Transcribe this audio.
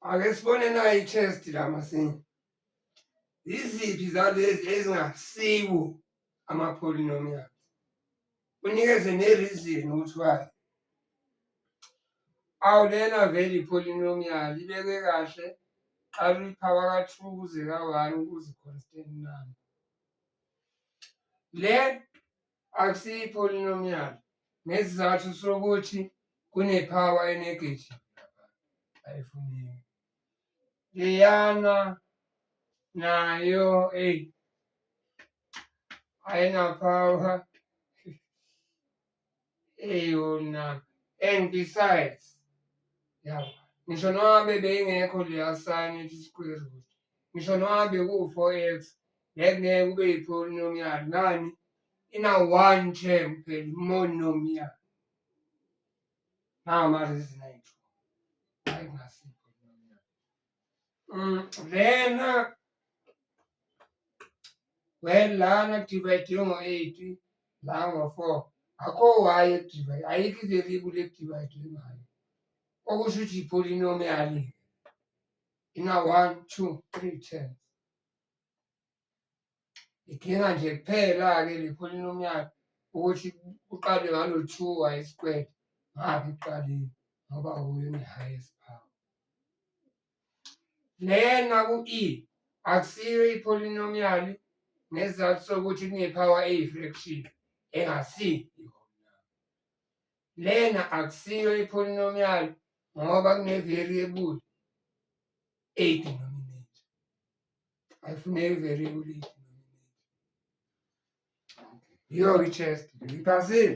ake sibone nayo i-chest la masinye yiziphi zalezi ezingasiwo ama-polynomials unikeze ne-reason ukuthi why awu lena vele i-polynomial ibeke kahle qala uyiphawa ka-two kuze ka-one kuze constant number le akusiyo i-polynomial ngesizathu sokuthi kunepower enegative ayifuneki leyana nayo eyi ayinapower eyona and besides yabo ngisho noma bebeyingekho leya sign ethi square root ngisho noma bekuwu-four x Ngeke ngeke ube yipolynomial ngani ina one term kuphela monomial nawo marezinayitho hayi ngasi mm, lena well lana divide ngo-eight la ngo-four akho waye ekudivide ayikho iveriable ekudivide ngayo okusho ukuthi yipolynomial ina one two three ten Idinga nje kuphela-ke le polynomial ukuthi uqale ngalo two y squared ngaphi ekuqaleni ngoba wuyo ne-highest power. Lena ku-E akusiyo i-polynomial ngesizathu sokuthi kune-power eyi-fraction engasiyo. Lena akusiyo i-polynomial ngoba kune-variable eyi-denominator. Ayifuneki i-variable eyi-denominator. Yiyo-ke i-chest, ngiphasile.